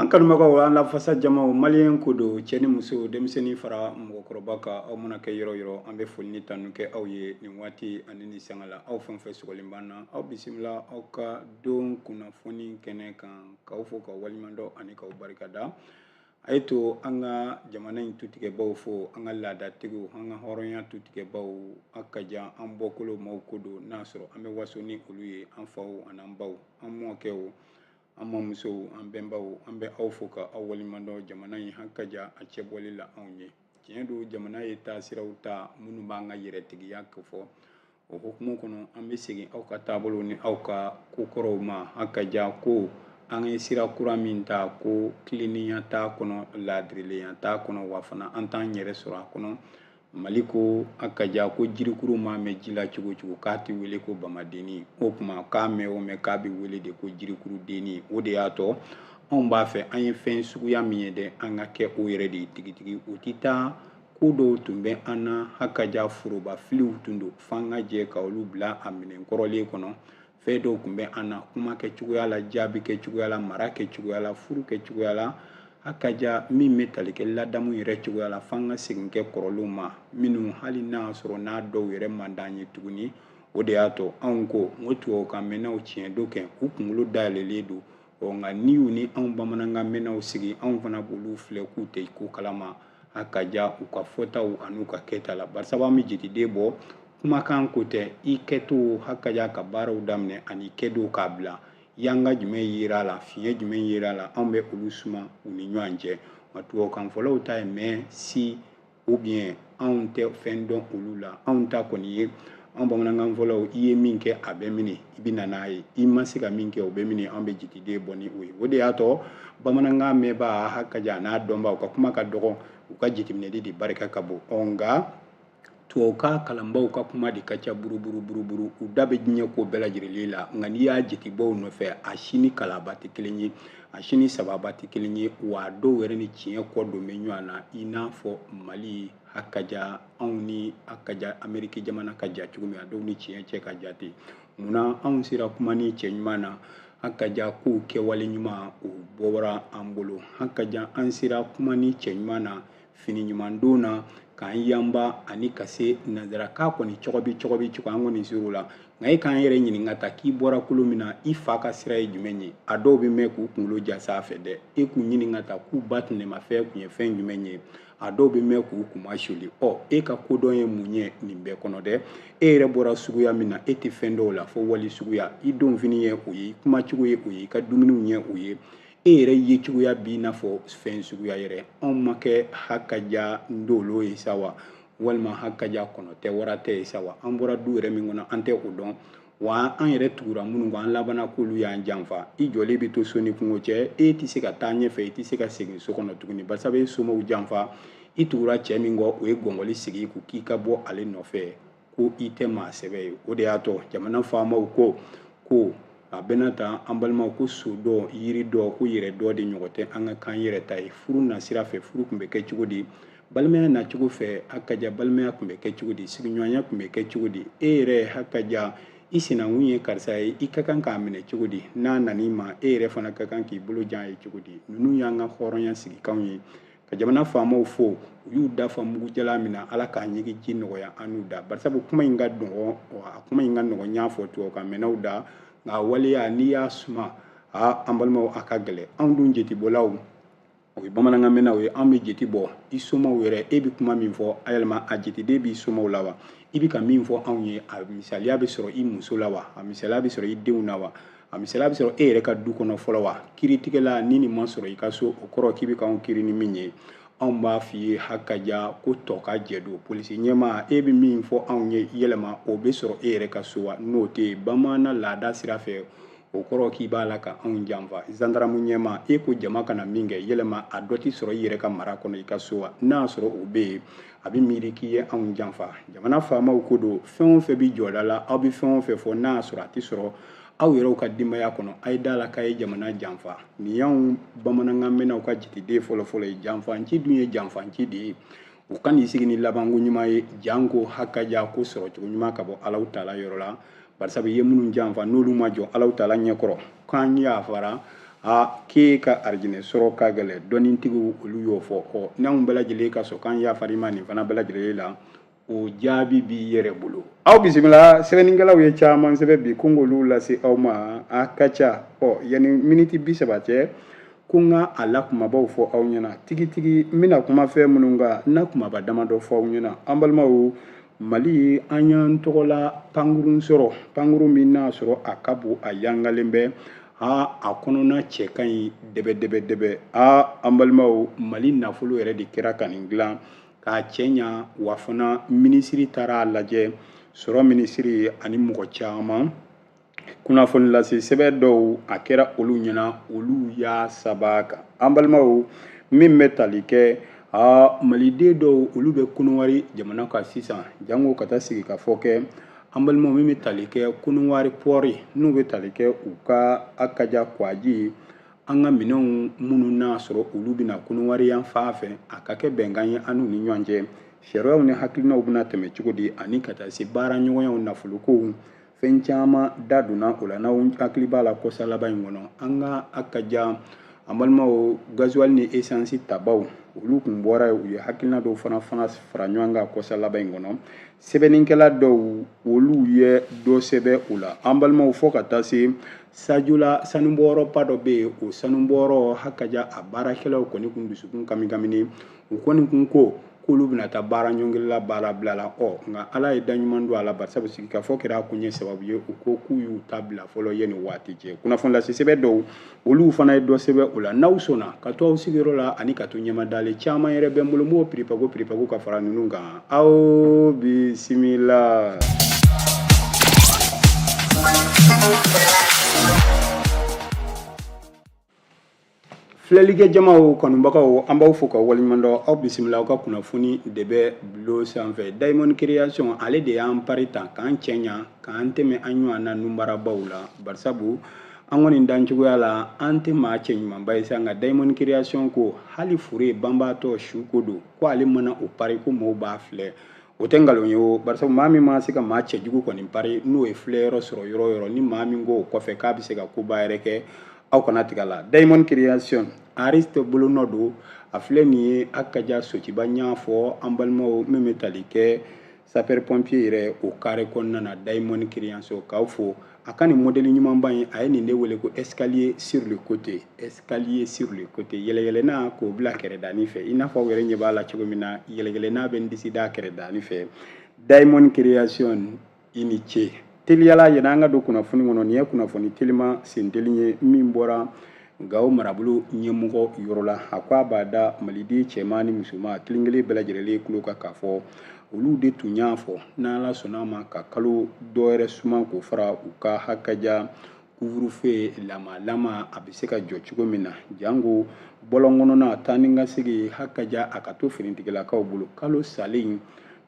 an kanubagaw an lafasa jamaw maliyɛn ko don cɛ ni muso denmisɛnnin fara mɔgɔkɔrɔba kan aw mana kɛ yɔrɔ yɔrɔ an bɛ foli ni tanu kɛ aw ye nin waati ani ni sanga la aw fɛn fɛn sɔgɔlen b'an na aw bisimila aw ka don kunnafoni kɛnɛ kan k'aw fo ka waleɲumandɔn ani k'aw barikada a ye to an ka jamana in tutigɛbaw fo an ka laadatigiw an ka hɔrɔnya tutigɛbaw hakaja an bɔkolo maaw ko don n'a sɔrɔ an bɛ waso ni olu ye an faw an'an baw an mɔkɛw an mamusow an bɛnbaw an bɛ aw fo ka aw waleɲumandɔn jamana in hakaja a cɛbɔli la anw ye tiɲɛ don jamana ye taasiraw ta minnu b'an ka yɛrɛtigiya kofɔ o hukumu kɔnɔ an bɛ segin aw ka taabolo ni aw ka kokɔrɔw ma hakaja ko an ye sira kura min ta ko tilennenya t'a kɔnɔ laadirilenya t'a kɔnɔ wa fana an t'an yɛrɛ sɔrɔ a kɔnɔ mali ko hakaja ko jirikuru maa mɛn ji la cogo cogo k'a tɛ wele ko bamadennin o tuma k'a mɛn o mɛn k'a bɛ wele de ko jirikuru dennin o de y'a to anw b'a fɛ an ye fɛn suguya min ye dɛ an ka kɛ o yɛrɛ de ye tigitigi o tɛ taa ko dɔw tun bɛ an na hakaja foroba filiw tun don f'an ka jɛ ka olu bila a minɛn kɔrɔlen kɔnɔ fɛn dɔw tun bɛ an na kuma kɛ cogoya la jaabi kɛ cogoya la mara kɛ cogoya la furu kɛ cogoya la hakaja min bɛ tali kɛ ladamu yɛrɛ cogoya la f'an ka segin kɛ kɔrɔlenw ma minnu hali n'a sɔrɔ n'a dɔw yɛrɛ man d'an ye tuguni o de y'a to anw ko n ko tubabukan mɛnnaw tiɲɛ don kɛ u kunkolo dayɛlɛlen don ɔ nka n'i y'u ni anw bamanankan mɛnnaw sigi anw fana b'olu filɛ k'u tɛ ko kalama hakaja u ka fɔtaw an'u ka kɛta la barisabu an bɛ jate de bɔ kumakan ko tɛ i kɛto hakaja ka baaraw daminɛ ani kɛdow k'a bila yanga jumɛn yera a la fiɲɛ jumɛn yera a la anw bɛ olu suma u ni ɲɔgɔn cɛ nka tubabukan fɔlaw ta ye mais si ou bien anw tɛ fɛn dɔn olu la anw ta kɔni ye an bamanankan fɔlaw i ye min kɛ a bɛ minɛ i bɛ na n'a ye i ma se ka min kɛ o bɛ minɛ an bɛ jate de bɔ ni o ye o de y'a to bamanankan mɛnbaa hakaja a n'a dɔnbaa u ka kuma ka dɔgɔ u ka jateminɛli de barika ka bon ɔ nka tubabukan kalanbaaw ka kuma de ka ca buruburu buruburu u da bɛ diɲɛ ko bɛɛ lajɛlen la nka n'i y'a jatebɔ o nɔfɛ a si ni kalaba tɛ kelen ye a si ni sababa tɛ kelen ye wa a dɔw yɛrɛ ni tiɲɛ kɔ don bɛ ɲɔgɔn na i n'a fɔ mali hakaja anw ni hakaja ameriki jamana ka jan cogo min a dɔw ni tiɲɛ cɛ ka jan ten munna anw sera kumanin cɛɲuman na hakaja ko kɛwale ɲuman o bɔra an bolo hakaja an sera kumanin cɛɲuman na fini ɲuman don na k'an yanba ani ka se nansarakan kɔni cɔgɔbi cɔgɔbi cogo an kɔni ser'o la nka e k'an yɛrɛ ɲininka ta k'i bɔra kolo min na i fa ka sira ye jumɛn ye a dɔw bɛ mɛn k'u kunkolo ja sanfɛ dɛ e k'u ɲininka ta k'u ba tɛnɛmafɛn tun ye fɛn jumɛn ye a dɔw bɛ mɛn k'u kunmasuuli ɔ e ka kodɔn ye mun ye nin bɛɛ kɔnɔ dɛ e yɛrɛ bɔra suguya min na e tɛ fɛn dɔn o la fo wali suguya i donfini ye o ye i kumacogo ye o ye i ka dumuniw ye o ye e yɛrɛ ye cogoya b'i n'a fɔ fɛn suguya yɛrɛ anw ma kɛ hakaja ndolo ye sa wa walima hakaja kɔnɔ tɛ wara tɛ ye sa wa an bɔra du yɛrɛ min kɔnɔ an tɛ o dɔn wa an yɛrɛ tugura minnu kɔ an labanna k'olu y'an janfa i jɔlen bɛ to so ni kungo cɛ e tɛ se ka taa ɲɛfɛ i tɛ se ka segin so kɔnɔ tuguni barisabu i ye somɔgɔw janfa i tugura cɛ min kɔ o ye gɔngɔli sigi i kun k'i ka bɔ ale nɔfɛ ko i tɛ maa sɛbɛ ye o de y'a to jamana faamaw ko ko a bɛna ta an balimaw ko so dɔn yiri dɔn ko yɛrɛdɔn de ɲɔgɔn tɛ an ka k'an yɛrɛ ta ye furu nasira fɛ furu tun bɛ kɛ cogo di balimaya nacogo fɛ hakaja balimaya tun bɛ kɛ cogo di sigiɲɔgɔnya tun bɛ kɛ cogo di e yɛrɛ hakaja i sinankun ye karisa ye i ka kan k'a minɛ cogo di n'a nan'i ma e yɛrɛ fana ka kan k'i bolo jan ye cogo di ninnu y'an ka hɔrɔnya sigikanw ye ka jamana faamaw fo u y'u da fa mugu jalan min na ala k'a ɲigin ji nɔgɔya an n'u da barisabu kuma in ka nɔgɔn a kuma in ka nɔgɔn n y'a fɔ tubabukan mɛnnaw da nka waleya n'i y'a suma a an balimaw a ka gɛlɛn anw dun jetibɔlaw o ye bamanankan mɛnnaw ye anw bɛ jeti bɔ i somaw yɛrɛ e bɛ kuma min fɔ a yɛlɛma a jetiden b'i somaw la wa i bɛ ka min fɔ anw ye a misaliya bɛ sɔrɔ i muso la wa a misaliya bɛ sɔrɔ i denw na wa a misaliya bɛ sɔrɔ e yɛrɛ ka du kɔnɔ fɔlɔ wa kiiritigɛla ni nin ma sɔrɔ i ka so o kɔrɔ k'i bɛ k'anw kiiri ni min ye anw b'a f'i ye hakaja ko tɔkajɛ don polisi ɲɛmaa e bɛ min fɔ anw ye yɛlɛma o bɛ sɔrɔ e yɛrɛ ka so wa n'o tɛ yen bamanan laada sira fɛ o kɔrɔ k'i b'a la ka anw janfa zandaramu ɲɛmaa e ko jama kana min kɛ yɛlɛma a dɔ tɛ sɔrɔ i yɛrɛ ka mara kɔnɔ i ka so wa n'a y'a sɔrɔ o bɛ yen a bɛ miiri k'i ye anw janfa jamana faamaw ko don fɛn o fɛn bɛ jɔda la aw bɛ fɛn o fɛn fɔ n'a y'a sɔrɔ a tɛ sɔrɔ aw yɛrɛw ka denbaya kɔnɔ a ye d'a la k'a ye jamana janfa nin y'anw bamanankan mɛnnaw ka jiteden fɔlɔfɔlɔ ye janfanci dun ye janfanci de ye u kan'i sigi ni labanko ɲuman ye janko hakaja ko sɔrɔcogo ɲuman ka bɔ alahu taala yɔrɔ la barisabu i ye minnu janfa n'olu ma jɔ alahu taala ɲɛkɔrɔ k'an yafara a k'e ka arijinɛ sɔrɔ ka gɛlɛn dɔnnintigiw olu y'o fɔ ɔ n'anw bɛɛ lajɛlen ka sɔn k'an yafar'i ma nin fana bɛɛ lajɛlen la o jaabi b'i yɛrɛ bolo aw bisimila sɛbɛnnikɛlaw ye caman sɛbɛn bi ko n k'olu lase aw ma a ka ca ɔ yanni miniti bi saba cɛ ko n ka a la kunbabaw fɔ aw ɲɛna tigitigi n bɛna kuma fɛn minnu kan n n'a kunbaba damadɔ fɔ aw ɲɛna an balimaw mali an y'an tɔgɔla pankurun sɔrɔ pankurun min n'a sɔrɔ a ka bon a yangalen bɛ aa a kɔnɔna cɛ ka ɲi dɛbɛdɛbɛdɛbɛ aa an balimaw mali nafolo yɛrɛ de kɛra ka nin dilan k'a cɛɲa wa fana minisiri taara a lajɛ sɔrɔ minisiri ani mɔgɔ caman kunnafonilase sɛbɛn dɔw a kɛra olu ɲɛna olu y'a saba kan an balimaw min bɛ tali kɛ aa maliden dɔw olu bɛ kɔnɔwari jamana kan sisan janko ka taa sigikafɔ kɛ an balimaw min bɛ tali kɛ kɔnɔwari pɔri n'u bɛ tali kɛ u ka akaja kwaji an ka minɛnw minnu n'a sɔrɔ olu bɛ na kɔnɔwari yan fan fɛ a ka kɛ bɛnkan ye an n'u ni ɲɔgɔn cɛ sariyaw ni hakilinaw bɛna tɛmɛ cogo di ani ka taa se baara ɲɔgɔnyaw nafolokow fɛn caman da donna o la n'aw hakili b'a la kɔsa laban in kɔnɔ an ka akaja an balimaw gazuwali ni esansi tabaw olu kun bɔra u ye hakilina dɔw fana fana fara ɲɔgɔn kan kɔsa laban in kɔnɔ sɛbɛnnikɛla dɔw olu ye dɔ sɛbɛn o la an balimaw fɔ ka taa se sajola sanubɔyɔrɔba dɔ bɛ yen o sanubɔyɔrɔ hakaja a baarakɛlaw kɔni kun dusukun kamikamini u kɔni kun ko k'olu bɛna taa baara ɲɔngiri la baara bila la ɔ nka ala ye da ɲuman don a la barisabu sigikafɔ kɛra a kun ye sababu ye u ko k'u y'u ta bila fɔlɔ yanni waati cɛ kunnafoni lase sɛbɛn dɔw olu fana ye dɔ sɛbɛn o la n'aw sɔnna ka to aw sigiyɔrɔ la ani ka to ɲɛmadalen caman yɛrɛ bɛ n bolo n b'o piripago piripago ka fara ninnu kan aw bisimila Filɛlikɛ jamaw kanubagaw an b'aw fo ka waleɲumandɔn aw bisimila aw ka kunnafoni de bɛ bulon sanfɛ diamond creation ale de y'an pari ta k'an cɛɲa k'an tɛmɛ an ɲɔgɔnna nunbarabaw la barisabu an kɔni dancogoya la an tɛ maa cɛɲumanba ye sa nka diamond creation ko hali fure banbaatɔ suko don ko ale mana o pari ko maaw b'a filɛ o tɛ nkalon ye o barisa maa min maa se ka maa cɛjugu kɔni pari n'o ye filɛ yɔrɔ sɔrɔ yɔrɔ yɔrɔ ni maa min ko o kɔfɛ k'a bɛ se ka koba yɛrɛ kɛ aw kana tigɛ la diamond creation ariste bolonɔ don a filɛ nin ye akaja sotuba n y'a fɔ an balimaw min bɛ tali kɛ sapɛri pɔnpiye yɛrɛ o kare kɔnɔna na diamond creation k'aw fo a ka nin modeli ɲumanba in a ye nin de wele ko escalier sur le côté escalier sur le côté yɛlɛyɛlɛna k'o bila kɛrɛdani fɛ i n'a fɔ aw yɛrɛ ɲɛ b'a la cogo min na yɛlɛyɛlɛna bɛ n disi da kɛrɛdani fɛ diamond création i ni ce teliya la yɛrɛ an ka don kunnafoni kɔnɔ nin ye kunnafoni teliman senteli ye min bɔra gawo marabolo ɲɛmɔgɔ yɔrɔ la a ko a b'a da maliden cɛman ni musoman kelen kelen bɛɛ lajɛlen tulo kan k'a fɔ olu de tun y'a fɔ n'ala sɔnna a ma ka kalo dɔ wɛrɛ suman k'o fara u ka hakaja couvre-feu lama lama a bɛ se ka jɔ cogo min na janko bɔlɔn kɔnɔna taa ni ka segin hakaja a ka to finitigilakaw bolo kalo salen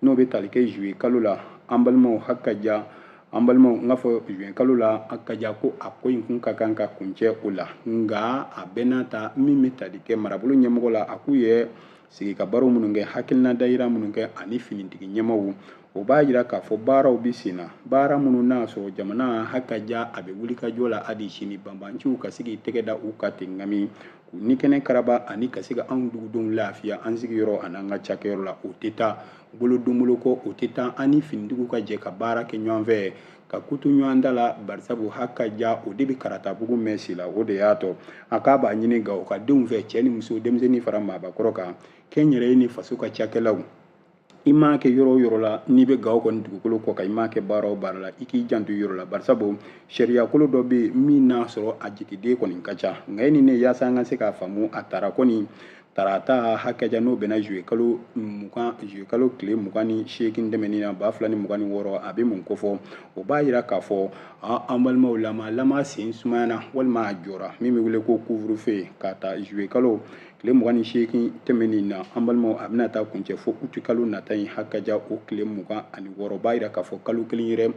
n'o bɛ tali kɛ zuwe kalo la an balimaw hakaja an balimaw n k'a fɔ juin kalo la hakaja ko a ko in kun ka kan ka kuncɛ o la nka a bɛɛ n'a ta min bɛ tali kɛ marabolo ɲɛmɔgɔ la a k'u ye sigikabaro minnu kɛ hakilina dayira minnu kɛ ani finitigi ɲɛmɔgɔw o b'a yira k'a fɔ baaraw bɛ sen na baara minnu n'a sɔrɔ jamana hakaja a bɛ wuli ka jɔ la hali sini banbanciw ka se k'i tɛgɛ da u ka ten ŋami k'u ni kɛnɛ karaba ani ka se ka anw dugudenw lafiya an sigiyɔrɔ an'an ka cakɛyɔrɔ la o tɛ taa bolo don bolo kɔ o tɛ taa an ni finitigiw ka jɛ ka baara kɛ ɲɔgɔn fɛ ka kutu ɲɔgɔn da la barisabu hakaja o de bɛ karatabugu mɛn si la o de y'a to a k'a b'a ɲini gawokadenw fɛ cɛ ni muso denmisɛnnin fara maabakɔrɔ kan kɛnyɛrɛye ni faso ka cakɛlaw i ma kɛ yɔrɔ o yɔrɔ la n'i bɛ gawo kɔni dugukolo kɔ kan i ma kɛ baara o baara la i k'i janto i yɛrɛ la barisabu sariyakolo dɔ bɛ yen min n'a sɔrɔ a jigiden kɔni ka ca nka e ni ne yaasa an ka se k'a faamu a tara kɔni tarata hakaja n'o bɛnna juye kalo mugan juye kalo tile mugan ni seegin tɛmɛnin na ba fila ni mugan ni wɔɔrɔ a bɛ mun kofɔ o b'a yira k'a fɔ an balimaw lama lama sen sumayana walima a jɔra min bɛ wele ko couvre-feu k'a ta juye kalo tile mugan ni seegin tɛmɛnin na an balimaw a bɛna taa kuncɛ fo uti kalo nata in hakaja o tile mugan ani wɔɔrɔ b'a yira k'a fɔ kalo kelen yɛrɛ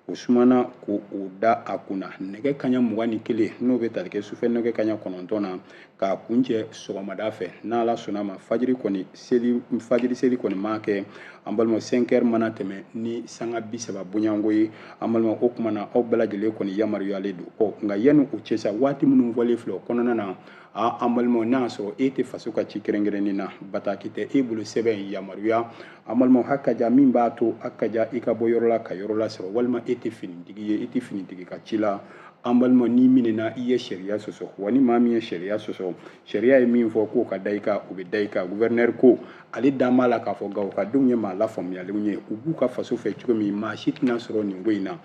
o sumana ko o da a kun na nɛgɛ kaɲa mugan ni kelen n'o bɛ tali kɛ sufɛ nɛgɛ kaɲa kɔnɔntɔn na k'a kuncɛ sɔgɔmada fɛ n'ala sɔnna ma fajiri kɔni seli fajiri seli kɔni ma kɛ an balima cinq heures mana tɛmɛ ni sanga bi saba bonyanko ye an balima o kuma na aw bɛɛ lajɛlen kɔni yamaruyalen don ɔ nka yanni o cɛ sa waati minnu fɔlen filɛ o kɔnɔna na a an balimaw n'a y'a sɔrɔ e tɛ faso ka ci kɛrɛnkɛrɛnnen na bataki tɛ e bolo sɛbɛn in yamaruya an balimaw hakaja min b'a to hakaja i ka bɔ yɔrɔ la ka yɔrɔ lasɔrɔ walima e tɛ finitigi ye e tɛ finitigi ka ci la an balimaw n'i minɛna i ye sariya sɔsɔ wa ni maa min ye sariya sɔsɔ sariya ye min fɔ k'o ka da i kan o bɛ da i kan guvɛrinɛri ko ale dalen b'a la k'a fɔ gawokadenw ye maa lafaamuyalenw ye u b'u ka faso fɛ cogo min maa si tɛna sɔrɔ nin ko in na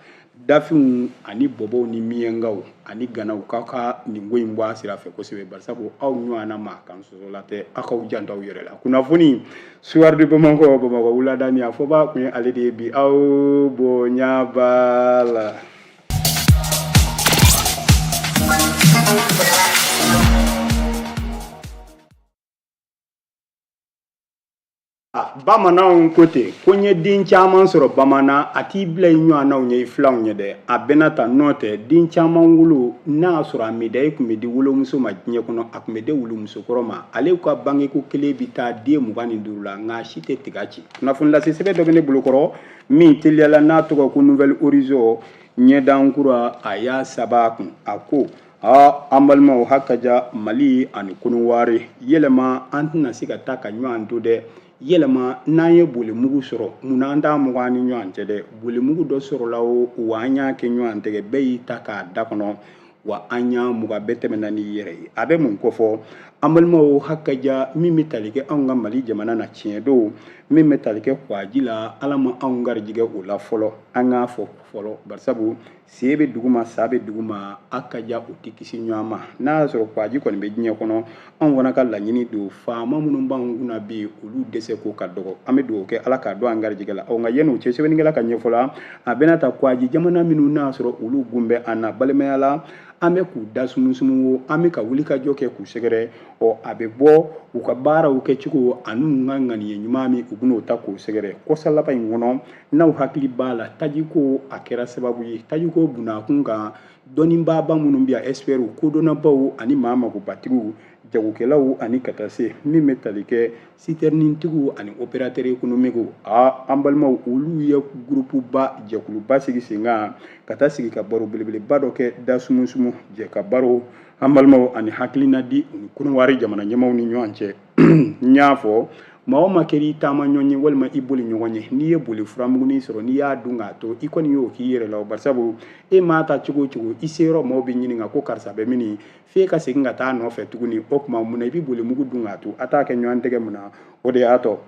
dafinw ani bɔbɔw ni miɲɛnkaw ani ganaw k'aw ka nin ko in bɔ a sira fɛ kosɛbɛ barisabu aw ɲɔgɔnna maa kan sɔsɔla tɛ aw k'aw janto aw yɛrɛ la kunnafoni soir de bamakɔ bamakɔ wuladanin a fɔbaa tun ye ale de ye bi aw bonya b'a la bamananw ko ten ko n ye den caman sɔrɔ bamanan a t'i bila i ɲɔgɔnnaw ɲɛ i filanw ɲɛ dɛ a bɛna ta n'o tɛ den caman wolo n'a y'a sɔrɔ a medayi tun bɛ di wolomuso ma diɲɛ kɔnɔ a tun bɛ di wolomusokɔrɔ ma ale ka bangeko kelen bɛ taa den mugan ni duuru la nka si tɛ tiga ci kunnafonilase sɛbɛn dɔ bɛ ne bolokɔrɔ min teliyala n'a tɔgɔ ko nouvel horizon ɲɛdan kura a y'a saba kun a ko Aa an balimaw hakaja mali ani kɔnɔwari yɛlɛma an tɛna se ka taa ka ɲɔgɔn to dɛ yɛlɛma n'an ye boli mugu sɔrɔ munna an t'a mugan ni ɲɔgɔn cɛ dɛ boli mugu dɔ sɔrɔla o wa an y'a kɛ ɲɔgɔn tɛgɛ bɛɛ y'i ta k'a da kɔnɔ wa an y'a mugan bɛɛ tɛmɛna n'i yɛrɛ ye a bɛ mun kofɔ an balimaw hakaja min bɛ tali kɛ anw ka mali jamana na tiɲɛ don min bɛ tali kɛ kwaji la ala ma anw garijɛgɛ o la fɔlɔ an k'a fɔ fɔlɔ barisabu sen bɛ dugu ma sa bɛ dugu ma hakaja u tɛ kisi ɲɔgɔn ma n'a y'a sɔrɔ kwaji kɔni bɛ diɲɛ kɔnɔ anw fana ka laɲini don faama minnu b'an kunna bi olu dɛsɛ ko ka dɔgɔ an bɛ dugawu kɛ ala k'a don an garijɛgɛ la ɔ nka yanni o cɛ sɛbɛnnikɛla ka ɲɛfɔ la a bɛna ta kwaji jamana minnu n'a sɔrɔ olu gun bɛ an na balimaya la an bɛ k'u da sumusumu wo an bɛ ka wuli ka jɔ kɛ k'u sɛgɛrɛ ɔ a bɛ bɔ u ka baaraw kɛcogo ani u ka ŋaniye ɲuman min u bɛn'o ta k'o sɛgɛrɛ kɔsa laban in kɔnɔ n'aw hakili b'a la tajiko a kɛra sababu ye tajiko bunakun kan dɔnnibaaba minnu bɛ yan ɛsipɛriw kodɔnnabaw ani maa magobatigiw jagokɛlaw ani ka taa se min bɛ tali kɛ sitɛrinitigiw ani operatɛri ekonomikiw a an balimaw olu ye gurupuba jɛkuluba sigi sen kan ka taa sigi ka baro belebeleba dɔ kɛ da sumusumu jɛ ka baro an balimaw ani hakilina di u ni kɔnɔwari jamana ɲɛmaaw ni ɲɔgɔn cɛ n y'a fɔ maa o maa kɛra i taama ɲɔgɔn ye walima i boli ɲɔgɔn ye n'i ye boli furamugunin sɔrɔ n'i y'a dun k'a to i kɔni y'o k'i yɛrɛ la o barisabu e maa taa cogo o cogo i se yɔrɔ maaw bɛ ɲininka ko karisa bɛ min f'e ka segin ka taa nɔfɛ tuguni o tuma mun na i bɛ boli mugu dun k'a to a t'a kɛ ɲɔgɔn tɛgɛ mun na o de y'a to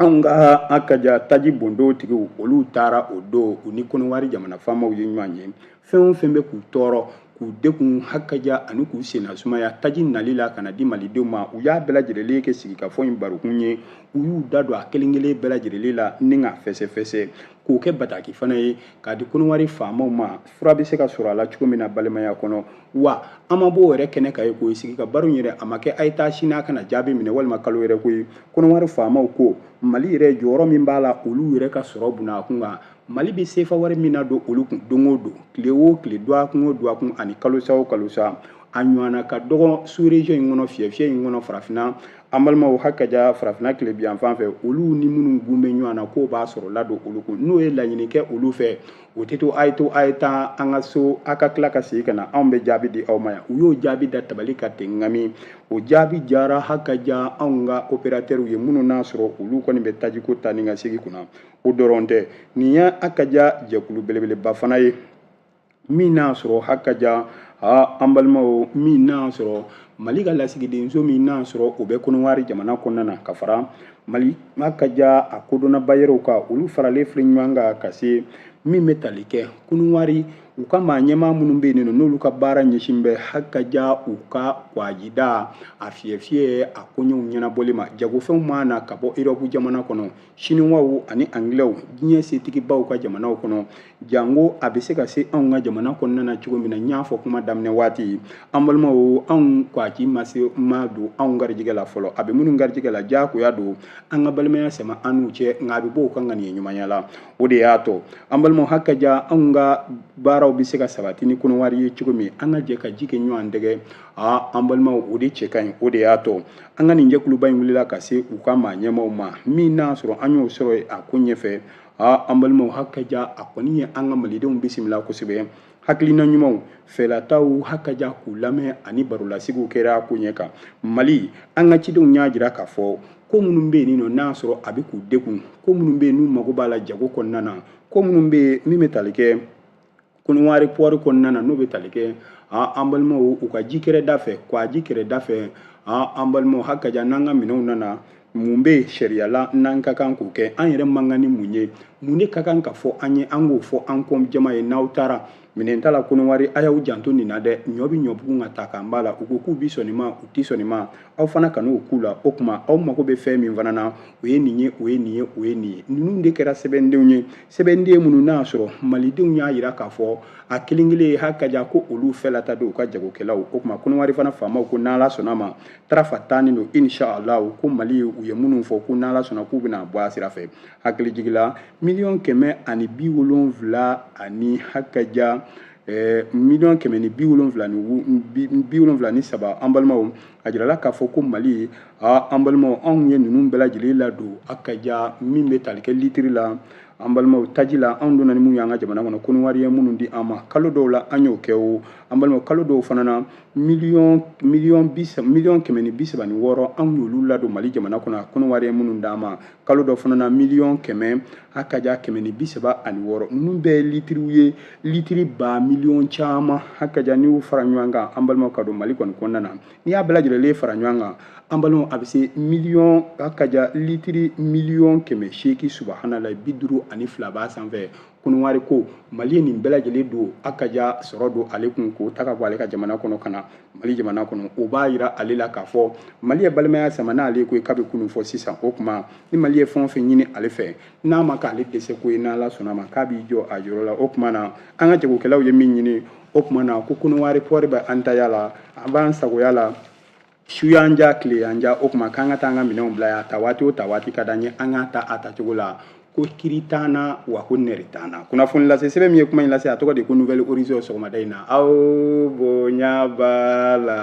anw ka hakaja taji bondon tigiw olu taara o don u ni kɔnɔwari jamana faamaw ye ɲɔgɔn ye fɛn o fɛn bɛ k'u tɔɔrɔ k'u degun hakaja ani k'u senna sumaya taji nali la ka na di malidenw ma u y'a bɛɛ lajɛlen kɛ sigikafɔ in barokun ye u y'u da don a kelen kelen bɛɛ lajɛlen la ni ka fɛsɛfɛsɛ k'o kɛ bataki fana ye k'a di kɔnɔwari faamaw ma fura bɛ se ka sɔrɔ a la cogo min na balimaya kɔnɔ wa an ma b'o yɛrɛ kɛnɛ kan ye k'o sigi ka baro yɛrɛ a ma kɛ a ye taa sini a ka na jaabi minɛ walima kalo yɛrɛ ko ye kɔnɔwari faamaw ko mali yɛrɛ jɔyɔrɔ min b'a la olu yɛrɛ ka sɔrɔ buna kun kan mali bɛ sefa wari min ladon olu kun don o don tile o tile duwakun o duwakun ani kalosa o kalosa a ɲɔgɔnna ka dɔgɔ suurezɔn in kɔnɔ fiyɛ fiyɛ in kɔnɔ farafinna an balimaw hakaja farafinna tilebinyanfan fɛ olu ni minnu gun bɛ ɲɔgɔn na k'u bɛ sɔrɔ ladon olu kun n'o ye laɲini kɛ olu fɛ o tɛ to a ye to a ye taa a ka so a ka tila ka segin ka na anw bɛ jaabi di aw ma yan u y'o jaabi da tabali kan ten ŋami o jaabi jara hakaja anw ka operatɛriw ye minnu n'a sɔrɔ olu kɔni bɛ tajiko taa ni ka segin kunna o dɔrɔn tɛ nin ye hakaja jɛkulu belebeleba fana ye min n'a sɔrɔ hakaja ha an balimaw min n'a sɔrɔ mali ka lasigidenso min n'a sɔrɔ o bɛ kɔnɔwari jamana kɔnɔna na ka fara mali hakaja a kodɔnnaba yɛrɛw ka olu faralen filɛ ɲɔgɔn kan ka se min bɛ tali kɛ kɔnɔwari u ka maa ɲɛmaa minnu bɛ yen nɔ n'olu ka baara ɲɛsin bɛ hakaja u ka kwajida a fiyɛfiyɛ a koɲɛw ɲɛnabɔli ma jagofɛnw maa na ka bɔ erɔpu jamana kɔnɔ siniwaw ani angilɛw diɲɛ setigibaw ka jamanaw kɔnɔ janko a bɛ se ka se anw ka jamana kɔnɔna na cogo min na n y'a fɔ kuma daminɛ waati an balimaw anw kwaji ma se ma don anw garijɛgɛ la fɔlɔ a bɛ minnu garijɛgɛ la diyagoya don an ka balimaya sɛmɛ an n'u cɛ nka a bɛ bɔ u ka ŋaniya ɲumanya la o de y'a to an balimaw hakaja anw ka baaraw bɛ se ka sabati ni kɔnɔwari ye cogo min an ka jɛ ka ji kɛ ɲɔgɔn dɛgɛ aa an balimaw o de cɛ ka ɲi o de y'a to an ka nin jɛkuluba in wulila ka se u ka maa ɲɛmaaw ma min n'a sɔrɔ an y'o sɔrɔ a ko ɲɛfɛ aa an balimaw hakaja a kɔni ye an ka malidenw bisimila kosɛbɛ hakilina ɲumanw fɛlataw hakaja k'u lamɛn ani barolasigiw kɛra koɲɛ kan mali an ka cidenw y'a jira k'a fɔ ko minnu bɛ yen nɔ n'a sɔrɔ a bɛ k'u degun ko minnu bɛ yen n'u mago b'a la jago kɔnɔna na ko minnu bɛ yen min bɛ tali kɛ kɔnɔwari pɔri kɔnɔna na n'o bɛ tali kɛ an balimaw u ka ji kɛrɛda fɛ kwaji kɛrɛda fɛ an balimaw hakaja n'an ka minɛnw nana mun bɛ yen sariya la n'an ka kan k'o kɛ an yɛrɛ man kan ni mun ye mun de ka kan ka fɔ an ye an k'o fɔ an kɔ jama ye n'aw taara minɛn ta la kɔnɔwari a y'aw janto nin na dɛ ɲɔ bɛ ɲɔbugu nka ta kan b'a la u ko k'u bi sɔn nin ma u ti sɔn nin ma aw fana kan'o k'u la o tuma aw mago bɛ fɛn min fana na o ye nin ye o ye nin ye o ye nin ye ninnu de kɛra sɛbɛndenw ye sɛbɛnden minnu n'a sɔrɔ malidenw y'a jira k'a fɔ a kelen kelen ye hakaja ko olu fɛlata don u ka jagokɛlaw o tuma kɔnɔwari fana faamaw ko n'ala sɔnna ma tarafa tannen don inshallah ko mali u ye minnu fɔ ko n'ala sɔnna k'u bɛna bɔ a sira fɛ hakili jigi la miliyɔn kɛmɛ ani bi wolonwula ani hakaja miliyɔn kɛmɛ ni bi wolonwula ni bi wolonwula ni saba an balimaw a jirala k'a fɔ ko mali a an balimaw anw ye ninnu bɛɛ lajɛlen ladon hakaja min bɛ tali kɛ litiri la an balimaw taji la anw donna ni minnu y'an ka jamana kɔnɔ kɔnɔwari ye minnu di an ma kalo dɔw la an y'o kɛ o an balimaw kalo dɔw fana na miliyɔn kɛmɛ ni bi saba ni wɔɔrɔ anw y'olu ladon mali jamana kɔnɔ a kɔnɔwari ye minnu d'an ma kalo dɔ fana na miliyɔn kɛmɛ hakaja kɛmɛ ni bi saba ani wɔɔrɔ ninnu bɛɛ ye litiriw ye litiri ba miliyɔn caman hakaja n'i y'u fara ɲɔgɔn kan an balimaw ka don mali kɔni kɔnɔna na n'i y'a bɛɛ lajɛlen fara ɲɔgɔn kan an balimaw a bɛ se miliyɔn hakaja litiri miliyɔn kɛmɛ seegin subahanala bi duuru ani fila b'a sanfɛ kɔnɔwari ko mali ye nin bɛɛ lajɛlen don hakaja sɔrɔ don ale kun k'o ta ka bɔ ale ka jamana kɔnɔ ka na mali jamana kɔnɔ o b'a yira ale la k'a fɔ mali ye balimaya sama n'ale ko ye kabi kunun fɔ sisan o tuma ni mali ye fɛn o fɛn ɲini ale fɛ n'a ma k'ale dɛsɛ ko ye n'ala sɔnna ma k'a b'i jɔ a yɔrɔ la o tuma na an ka jagokɛlaw ye min ɲini o tuma na ko kɔnɔwari pɔri bɛ an taya la a b'an sagoya la su y'an diya tile y'an diya o tuma k'an ka taa an ka minɛnw bila yan ta waati o ta waati ka d'an ye an k'a ta a tacogo la ko kiri t'an na wa ko nɛri t'an na kunnafoni lase sɛbɛn min ye kuma in lase a tɔgɔ de ko nouvel horizon sɔgɔmada in na aw bonya b'a la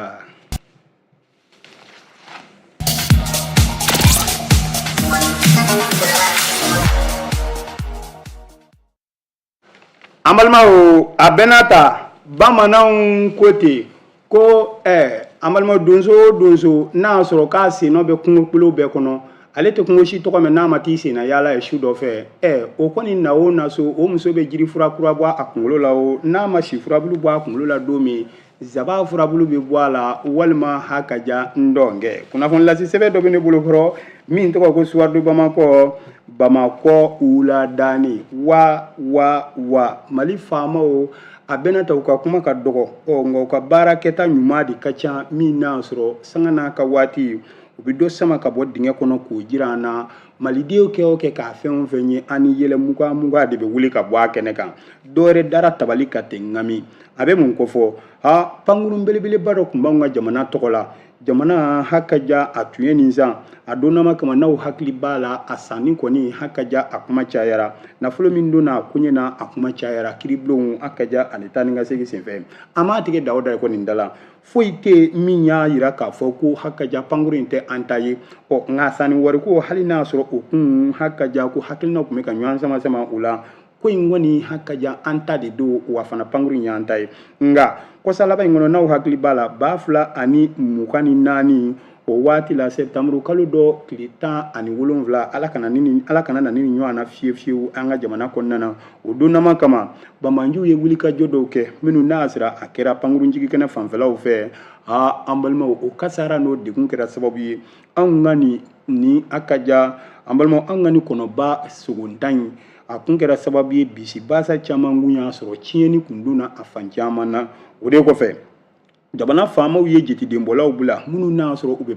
an balimaw a bɛna ta bamananw ko ten ko ɛɛ an balimaw donso o donso n'a y'a sɔrɔ k'a sennɔ bɛ kungokolo bɛɛ kɔnɔ ale tɛ kungo si tɔgɔ mɛn n'a ma t'i senna yaala yen su dɔ fɛ ɛɛ o kɔni na o na so o muso bɛ jiri fura kura bɔ a kunkolo la o n'a ma si furabulu bɔ a kunkolo la don min Zaba furabulu bɛ bɔ a la walima hakaja ntɔnkɛ kunnafoni lase sɛbɛn dɔ bɛ ne bolokɔrɔ min tɔgɔ ko soir de bamakɔ bamakɔ wuladanin wa wa wa mali faamaw a bɛna ta u ka kuma ka dɔgɔ ɔ nka u ka baara kɛta ɲuman de ka ca min n'a sɔrɔ sanga n'a ka waati u bɛ dɔ sama ka bɔ dingɛ kɔnɔ k'o jira an na malidenw kɛ o kɛ k'a fɛn o fɛn ye an ni yɛlɛ mugan mugan de bɛ wuli ka bɔ a kɛnɛ kan dɔwɛrɛ dara tabali kan ten ŋami a bɛ mun kofɔ ha pankurun belebeleba dɔ tun b'anw ka jamana tɔgɔ la jamana hakaja a tun ye nin san a donnama kama n'aw hakili b'a la a sanni kɔni hakaja a kuma cayara nafolo min donna a koɲɛ na a kuma cayara kiribulonw hakaja ani taa ni ka segin senfɛ an m'a tigɛ da o da ye ko nin da la foyi tɛ min y'a yira k'a fɔ ko hakaja pankuru in tɛ an ta ye ɔ nka sanni wariko hali n'a sɔrɔ o kun hakaja ko hakilinaw tun bɛ ka ɲɔgɔn sama sama o la ko in kɔni hakaja an ta de don wa fana pankuru in y'an ta ye nka kɔsa laban in kɔnɔ n'aw hakili b'a la ba fila ani mugan ni naani o waati la sɛbtanburu kalo dɔ tile tan ani wolonwula ala kana na ni ɲɔgɔn na fiyewu fiyewu an ka jamana kɔnɔna na o donnama kama banbaanciw ye wulikajɔ dɔw kɛ minnu n'a sɔrɔ a kɛra pankurunjigi kɛnɛ fanfɛlaw fɛ aa an balimaw o kasaara n'o degun kɛra sababu ye anw ka nin hakaja an balimaw an ka nin kɔnɔba sogontan in a kun kɛra sababu ye bisi basa caman kun y'a sɔrɔ tiɲɛni kun donna a fan caman na o de kɔfɛ jamana faamaw ye jetidenbɔlaw bila minnu n'a sɔrɔ u bɛ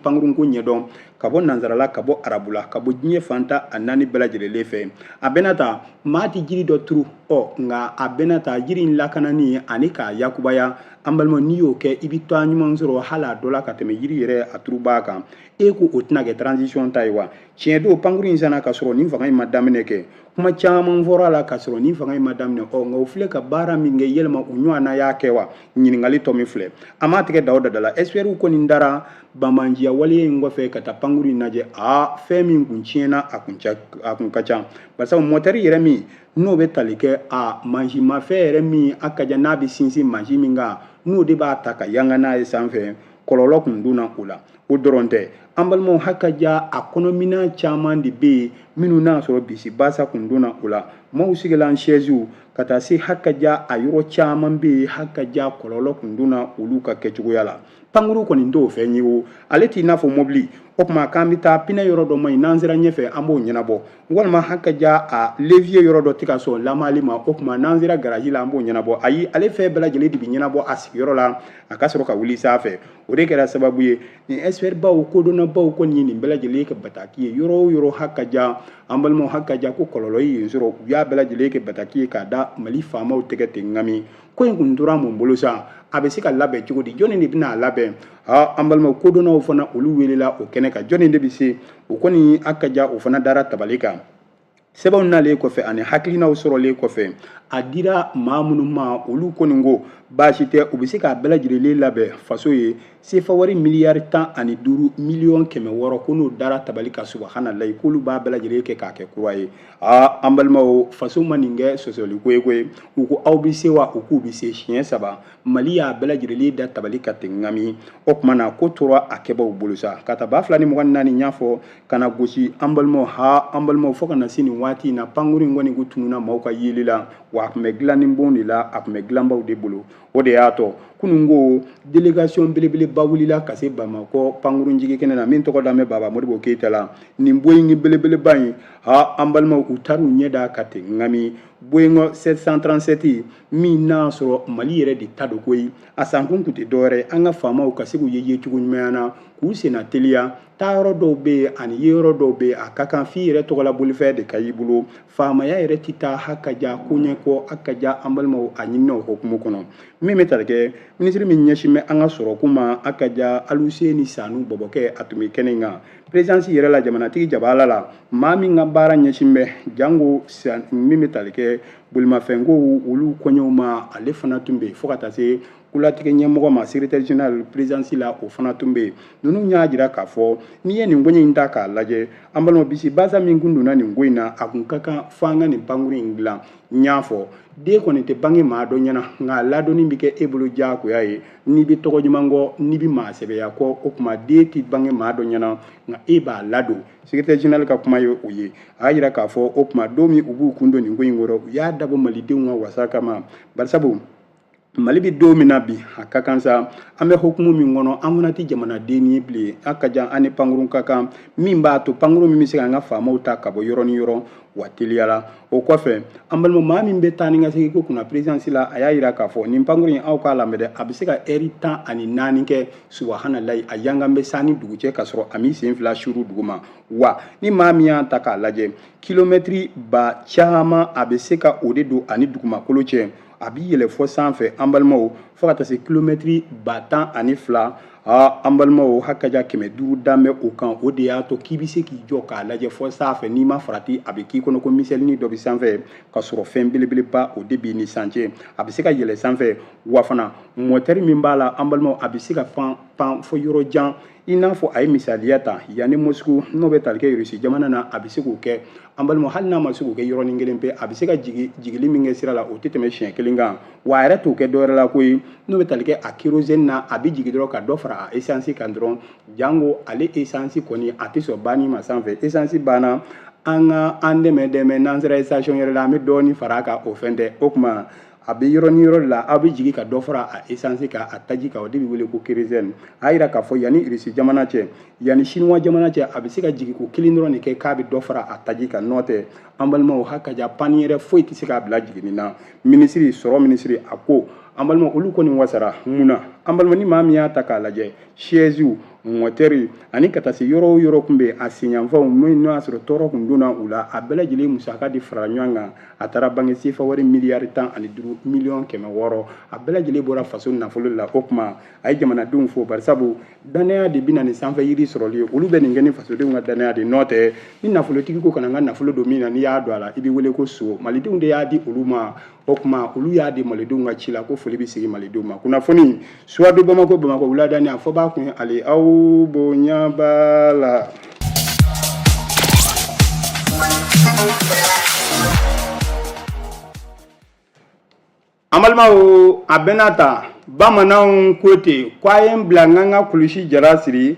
pankurunko ɲɛdɔn ka bɔ nansarala ka bɔ arabula ka bɔ diɲɛ fan tan ni naani bɛɛ lajɛrɛlen fɛ a bɛna ta maa tɛ jiri dɔ turu ɔ nka a bɛna ta jiri in lakanani ani k'a yakubaya an balima n'i y'o kɛ i bɛ tɔgɔ ɲuman sɔrɔ hali a dɔ la ka tɛmɛ jiri yɛrɛ a turubaa kan e ko o tɛna kɛ transition ta ye wa tiɲɛ don pankuru in sanna ka sɔrɔ nin fanga in ma daminɛ kɛ kuma caman fɔra a la ka sɔrɔ nin fanga in ma daminɛ ɔ nka u filɛ ka baara min kɛ yɛlɛma u ɲɔgɔn na y'a kɛ wa ɲininkali tomi filɛ a ma tigɛ da o da la ɛsipɛriw kɔni taara banbanciya waleya in kɔfɛ ka taa pankuru in lajɛ a fɛn min kun tiɲɛna a kun ca a kun ka ca barisa mɔtɛri yɛrɛ min n'o bɛ tali kɛ a mansinmafɛn yɛrɛ min hakaja n'a bɛ sinsin mansin min kan n'o de b'a ta ka yanga n'a ye sanfɛ kɔlɔlɔ kun donna o la o dɔrɔn tɛ an balimaw hakaja a kɔnɔminan caman de bɛ yen minnu n'a sɔrɔ bisi basa kun donna o la maaw sigilan sɛziw ka taa se hakaja a yɔrɔ caman bɛ yen hakaja kɔlɔlɔ kun donna olu ka kɛcogoya la pankuru kɔni t'o fɛn ye o ale t'i n'a fɔ mɔbili o tuma k'an bɛ taa pinɛ yɔrɔ dɔ man ɲi n'an sera ɲɛfɛ an b'o ɲɛnabɔ walima hakaja a leviye yɔrɔ dɔ tɛ ka sɔn lamali ma o tuma n'an sera garaji la an b'o ɲɛnabɔ ayi ale fɛn bɛɛ lajɛlen de bɛ ɲɛnabɔ a sigiyɔrɔ la a ka sɔrɔ ka wuli sanfɛ o de kɛra sababu ye nin expert baw kodɔnnabaw kɔni ye nin bɛɛ lajɛlen kɛ bataki ye yɔrɔ o yɔrɔ hakaja an balimaw hakaja ko kɔlɔlɔ ye yen sɔrɔ u y'a bɛɛ lajɛlen kɛ bataki ye k'a da mali faamaw tɛgɛ ten ŋami ko in kun tora mun bolo sa a bɛ se ka labɛn cogo di jɔnni de bɛna a labɛn ha an balimaw kodɔnnaw fana olu welela o kɛnɛ kan jɔnni de bɛ se o kɔni hakaja o fana dara tabali kan sɛbɛnw nalen kɔfɛ ani hakilinaw sɔrɔlen kɔfɛ a dira maa minnu ma olu kɔni ko baasi tɛ u bɛ se k'a bɛɛ lajɛlen labɛn faso ye sefa wari miliyari tan ani duuru miliyɔn kɛmɛ wɔɔrɔ ko n'o dara tabali kan subahanalayi k'olu b'a bɛɛ lajɛlen kɛ k'a kɛ kura ye aa an balimaw faso ma nin kɛ sɔsɔli ko ye koyi u ko aw bɛ se wa u k'u bɛ se siɲɛ saba mali y'a bɛɛ lajɛlen da tabali kan ten ŋami o tuma na ko tora a kɛbaaw bolo sa ka taa ba fila ni mugan naani n y'a fɔ ka na gosi an balimaw ha an balimaw fo ka na se nin waati in na pankuru in kɔni kun tununna maaw ka yeli la wa a tun bɛ dilanni bon de la a tun bɛ dilanbaw de bolo o de y'a to kunun ko delegation belebeleba wulila ka se bamakɔ pankuru jigi kɛnɛ na min tɔgɔ dalen bɛ baba modibo keyita la nin boyingi belebeleba in ha an balimaw u taara u ɲɛ da a kan ten ŋami boyingɔ 737 min n'a sɔrɔ mali yɛrɛ de ta don koyi a sankun tun tɛ dɔwɛrɛ an ka faamaw ka se k'u ye yecogo ɲuman na k'u senna teliya taa yɔrɔ dɔw bɛ yen ani ye yɔrɔ dɔw bɛ yen a ka kan f'i yɛrɛ tɔgɔla bolifɛn de ka y'i bolo faamaya yɛrɛ tɛ taa hakaja ko ɲɛ kɔ hakaja an balimaw a ɲinina o hokumu kɔnɔ min bɛ tali kɛ minisiri min ɲɛsin bɛ an ka sɔrɔko ma hakaja aluseni sanu bɔbɔkɛ a tun bɛ kɛnɛ in kan perezidansi yɛrɛ la jamanatigi jabaala la maa min ka baara ɲɛsin bɛ jango min bɛ tali kɛ bolimafɛnko olu koɲɛw ma ale fana tun bɛ yen fo ka taa se kolatigɛ ɲɛmɔgɔ ma secrétaire général présidence la o fana tun bɛ yen ninnu y'a jira k'a fɔ n'i ye nin koɲɛ in ta k'a lajɛ an balima bisi basa min kun donna nin ko in na a kun ka kan fo an ka nin pankuru in dilan n y'a fɔ den kɔni tɛ bange maa dɔ ɲɛna nka ladonni bɛ kɛ e bolo diyagoya ye n'i bɛ tɔgɔ ɲuman kɔ n'i bɛ maa sɛbɛya kɔ o tuma den tɛ bange maa dɔ ɲɛna nka e b'a ladon secrétaire général ka kuma ye o ye a y'a jira k'a fɔ o tuma don min u b'u kun don nin ko in kɔrɔ u y'a dabɔ malidenw ka wasa kama barisabu mali bɛ don min na bi a ka kan sa an bɛ hukumu min kɔnɔ an fana tɛ jamanaden ye bilen a ka jan an ni pankurun ka kan min b'a to pankurun min bɛ se ka an ka faamaw ta ka bɔ yɔrɔ ni yɔrɔ wa teliya la o kɔfɛ an balima maa min bɛ taa ni ka segin ko kunna perezidansi la a y'a jira k'a fɔ nin pankurun in aw k'a lamɛn dɛ a bɛ se ka ɛri tan ani naani kɛ subahanalayi a yangan bɛ san ni dugu cɛ ka sɔrɔ a m'i sen fila suru duguma wa ni maa min y'a ta k'a lajɛ kilomɛtiri ba caman a bɛ se ka o de don a ni dugumakolo cɛ a b'i yɛlɛ fɔ sanfɛ an balimaw fo ka taa se kilomɛtiri ba tan ani fila aa an balimaw hakaja kɛmɛ duuru dan bɛ o kan o de y'a to k'i bɛ se k'i jɔ k'a lajɛ fɔ sanfɛ n'i ma farati a bɛ k'i kɔnɔ ko miselinin dɔ bɛ sanfɛ ka sɔrɔ fɛn belebeleba o de b'i ni san cɛ a bɛ se ka yɛlɛ sanfɛ wa fana mɔtɛri min b'a la an balimaw a bɛ se ka pan pan fɔ yɔrɔ jan i n'a fɔ a ye misaliya ta yanni mosiku n'o bɛ tali kɛ irisi jamana na a bɛ se k'o kɛ an balima hali n'a ma se k'o kɛ yɔrɔnin kelen pe a bɛ se ka jigili min kɛ sira la o tɛ tɛmɛ siɲɛ kelen kan wa a yɛrɛ t'o kɛ dɔwɛrɛ la koyi n'o bɛ tali kɛ a kerosene na a bɛ jigi dɔrɔn ka dɔ fara a esansi kan dɔrɔn jango ale esansi kɔni a tɛ sɔn banni ma sanfɛ esansi banna an ka an dɛmɛ dɛmɛ n'an sera station yɛrɛ la an bɛ dɔɔnin fara a kan o fɛn tɛ o tuma a bɛ yɔrɔ ni yɔrɔ la a bɛ jigin ka dɔ fara a esansi kan a taji kan o de bɛ wele ko kerezɛni a yira k'a fɔ yanni irisi jamana cɛ yanni sinuwa jamana cɛ a bɛ se ka jigin ko kelen dɔrɔn de kɛ k'a bɛ dɔ fara a taji kan n'o tɛ an balimaw hakaja pani yɛrɛ foyi tɛ se k'a bila jiginni na minisiri sɔrɔ minisiri a ko an balima olu kɔni wasara mun na an balima ni maa min y'a ta k'a lajɛ sɛziw mɔtɛri ani ka taa se yɔrɔ o yɔrɔ tun bɛ a senyanfanw n'o y'a sɔrɔ tɔɔrɔ tun donna u la a bɛɛ lajɛlen musaka de farala ɲɔgɔn kan a taara bange sefa wari miliyari tan ani duuru miliyɔn kɛmɛ wɔɔrɔ a bɛɛ lajɛlen bɔra faso nafolo la o tuma a ye jamanadenw fo barisabu dannaya de bɛ na ni sanfɛ yiri sɔrɔli ye olu bɛ nin kɛ ni fasodenw ka dannaya de n'o tɛ ni nafolotigi ko kana n ka nafolo don min na n'i y'a don a la i bɛ wele ko son malidenw de y'a di olu ma o tuma olu y'a di malidenw ka ci la ko foli bɛ sigi malidenw ma kunnafoni suwadu bamakɔ bamakɔ wuladani aw fo b'a kun ale aw bonya b'a la an balimaw a bɛna ta bamananw ko ten ko a ye n bila n ka n ka kulusi jara siri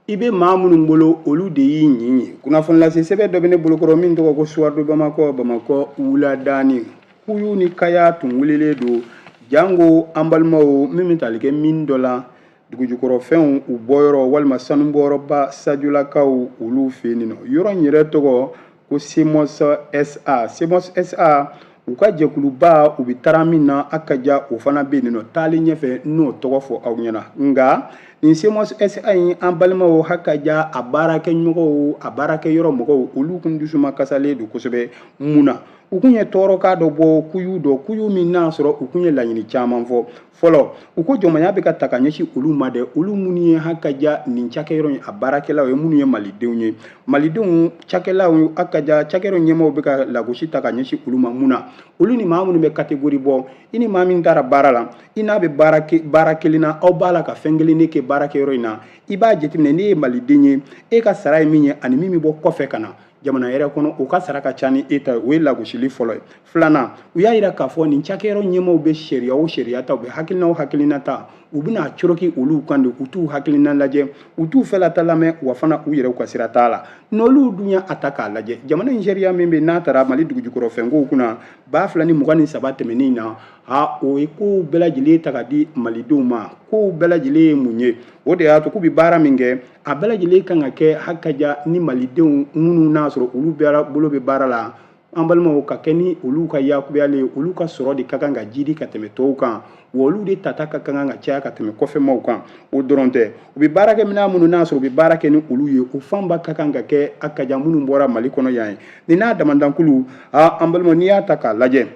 i bɛ maa minnu bolo olu de y'i ɲin ye kunnafonilase sɛbɛn dɔ bɛ ne bolokɔrɔ min tɔgɔ ko soir de bamakɔ bamakɔ wuladaani kuyu ni kaya tun wulilen don jango an balimaw min bɛ tali kɛ mine dɔ la dugujukɔrɔfɛnw u bɔyɔrɔ walima sanubɔyɔrɔba sajolakaw olu fɛ yen nɔ yɔrɔ in yɛrɛ tɔgɔ ko semos sa semos sa u ka jɛkuluba u bɛ tara min na hakaja o fana bɛ yen nɔ taali ɲɛfɛ n'o tɔgɔ fɔ aw ɲɛna nka nin semos sa in an balimaw hakaja a baarakɛɲɔgɔnw a baarakɛyɔrɔ mɔgɔw olu kun dusuma kasalen don kosɛbɛ mun na u kun ye tɔɔrɔkan dɔ bɔ kuyu dɔ kuyu min n'a sɔrɔ u kun ye laɲini caman fɔ fɔlɔ u ko jɔnmaya bɛ ka ta ka ɲɛsin olu ma dɛ olu minnu ye hakaja nin cakɛyɔrɔ in a baarakɛlaw ye minnu ye malidenw ye malidenw cakɛlaw hakaja cakɛyɔrɔ ɲɛmɔgɔw bɛ ka lagosi ta ka ɲɛsin olu ma mun na olu ni maa minnu bɛ kategori bɔ i ni maa min taara baara la i n'a bɛ baara baara kelen na aw b'a la ka fɛn kelen de kɛ baarakɛyɔrɔ in na i b'a jateminɛ ne ye maliden ye e ka sara ye min ye ani min bɛ bɔ kɔfɛ ka na jamana yɛrɛ kɔnɔ u ka sara ka ca ni e ta ye o ye lagosili fɔlɔ ye filanan u y'a yira k'a fɔ nin cakɛyɔrɔ ɲɛmɔgɔw bɛ sariya o sariya ta u bɛ hakilina o hakilina ta u bɛna a coroki olu kan de u t'u hakilina lajɛ u t'u fɛlata lamɛn wa fana u yɛrɛw ka sira t'a la n'olu dun y'a ta k'a lajɛ jamana in sariya min bɛ n'a tara mali dugujukɔrɔfɛnkow kunna ba fila ni mugan ni saba tɛmɛnen na a o ye kow bɛɛ lajɛlen ta ka di malidenw ma kow bɛɛ lajɛlen ye mun ye o de y'a to k'u bɛ baara min kɛ a bɛɛ lajɛlen kan ka kɛ hakaja ni malidenw minnu n'a sɔrɔ olu bɛɛ bolo bɛ baara la an balimaw ka kɛ ni olu ka yakubayalen ye olu ka sɔrɔ de ka kan ka jidi ka tɛmɛ tɔw kan wa olu de tata ka kan ka caya ka tɛmɛ kɔfɛmaw kan o dɔrɔn tɛ u bɛ baarakɛminɛn minnu n'a sɔrɔ u bɛ baara kɛ ni olu ye o fanba ka kan ka kɛ hakaja minnu bɔra mali kɔnɔ yan ye nin n'a damadankulu aa an balima n'i y'a ta k'a lajɛ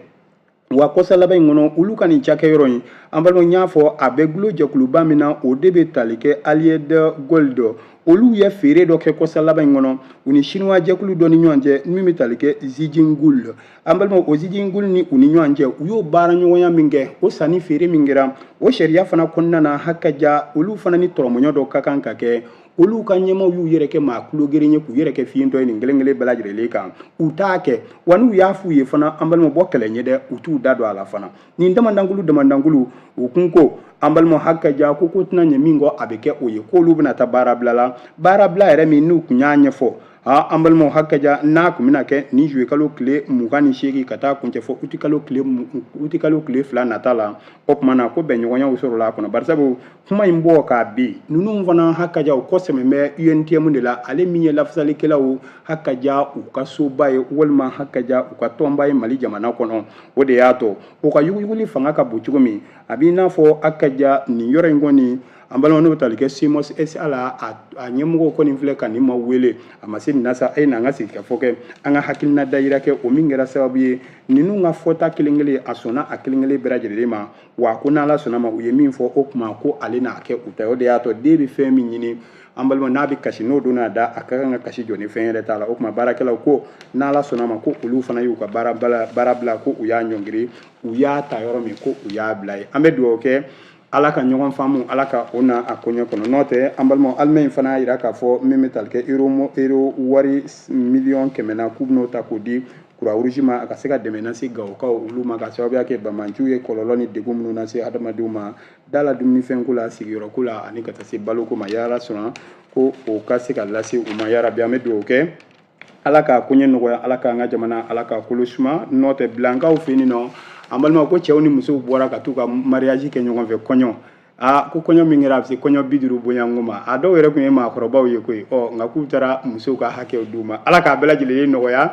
wa kɔsa laban in kɔnɔ olu ka nin cakɛyɔrɔ in an balimaw n y'a fɔ a bɛ gulo jɛkuluba min na o de bɛ tali kɛ allied gold olu ye feere dɔ kɛ kɔsa laban in kɔnɔ u ni sinuwa jɛkulu dɔ ni ɲɔgɔn cɛ min bɛ tali kɛ zijin gold an balimaw o zijin gold ni u ni ɲɔgɔn cɛ u y'o baara ɲɔgɔnya min kɛ o sanni feere min kɛra o sariya fana kɔnɔna na hakaja olu fana ni tɔrɔmɔɲɔ dɔ ka kan ka kɛ olu ka ɲɛmaw y'u yɛrɛ kɛ maa tulo geren ye k'u yɛrɛ kɛ fiyentɔ ye nin kelen kelen bɛɛ lajɛlen kan u t'a kɛ wa n'u y'a f'u ye fana an balima bɔ kɛlɛ ɲɛ dɛ u t'u da don a la fana nin damadankulu damadankulu u kun ko an balima hakaja ko ko tɛna ɲɛ min kɔ a bɛ kɛ o ye k'olu bɛna taa baarabila la baarabila yɛrɛ min n'u kun y'a ɲɛfɔ aa an balimaw hakaja n'a kun bɛna kɛ nin juwe kalo tile mugan ni seegin ka taa kuncɛ fo utikalo tile utikalo tile fila nata la o tuma na ko bɛnɲɔgɔnyaw sɔrɔla a kɔnɔ barisabu kuma in bɔ k'a bin ninnu fana hakaja u kɔsɛmɛ bɛ UNTM de la ale min ye lafasalikɛlaw hakaja u ka soba ye walima hakaja u ka tɔnba ye Mali jamana kɔnɔ o de y'a to u ka yuguyuguli fanga ka bon cogo min a b'i n'a fɔ hakaja nin yɔrɔ in kɔni an balimaw n'o bɛ tali kɛ SEMOS SA la a ɲɛmɔgɔw kɔni filɛ ka nin ma wele a ma se nin na sa a ye n'an ka sigikafɔ kɛ an ka hakilina dayira kɛ o min kɛra sababu ye ninnu ka fɔta kelen kelen a sɔnna a kelen kelen bɛɛ lajɛlen ma wa ko n'ala sɔnna ma u ye min fɔ o kuma ko ale n'a kɛ u ta ye o de y'a to den bɛ fɛn min ɲini an balimaw n'a bɛ kasi n'o donna a da a ka kan ka kasi jɔ ni fɛn yɛrɛ t'a la o tuma baarakɛlaw ko n'ala sɔnna ma ko olu fana y'u ka baarabila ko u y'a ɲɔngiri u y'a ta yɔrɔ min ko u y'a bila yen an bɛ dugawu kɛ ala ka ɲɔgɔn faamu ala ka o na a koɲɛ kɔnɔ n'o tɛ an balimaw alimaɲi fana y'a jira k'a fɔ min bɛ tali kɛ euro wari miliyɔn kɛmɛ na k'u bɛn'o ta k'o di Croix-Rouge ma a ka se ka dɛmɛ lase gawokaw olu ma ka sababuya kɛ bamanciw ye kɔlɔlɔ ni degun minnu lase adamadenw ma da la dumunifɛnko la sigiyɔrɔko la ani ka taa se baloko ma n'ala sɔnna ko o ka se ka lase u ma yarabi an bɛ dugawu kɛ ala ka koɲɛ nɔgɔya ala k'an ka jamana ala k'a kolo suma n'o tɛ bilankaw fɛ yen nɔ an balimaw ko cɛw ni musow bɔra ka t'u ka mariyaji kɛ ɲɔgɔn fɛ kɔɲɔ aa ko kɔɲɔ min kɛra a bɛ se kɔɲɔ bi duuru bɔɲɔgɔnko ma a dɔw yɛrɛ tun ye maakɔrɔbaw ye koyi ɔ nka k'u taara musow ka hakɛw d'u ma ala k'a bɛɛ lajɛlen nɔgɔya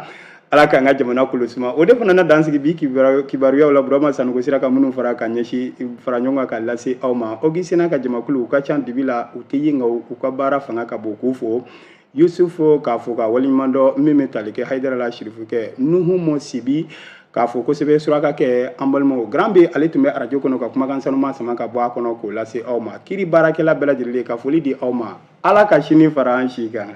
ala k'an ka jamana kolo suma o de fana na dan sigi bi kibaruyaw la burama sanɔgɔ sera ka minnu fara ka ɲɛsin fara ɲɔgɔn kan ka lase aw ma Augustin n'a ka jamakulu u ka ca dibi la u tɛ ye nka u ka baara fanga ka bon k'u fo yusufu k'a fo k'a waleɲuman dɔn min bɛ tali kɛ hayidara la sirifukɛ nuhum sibi k'a fo kosɛbɛ surakakɛ an balimaw Grand B ale tun bɛ arajo kɔnɔ ka kumakan sanuma sama ka bɔ a kɔnɔ k'o lase aw ma kiri baarakɛla bɛɛ lajɛlen ka foli di aw ma ala ka sini fara an si kan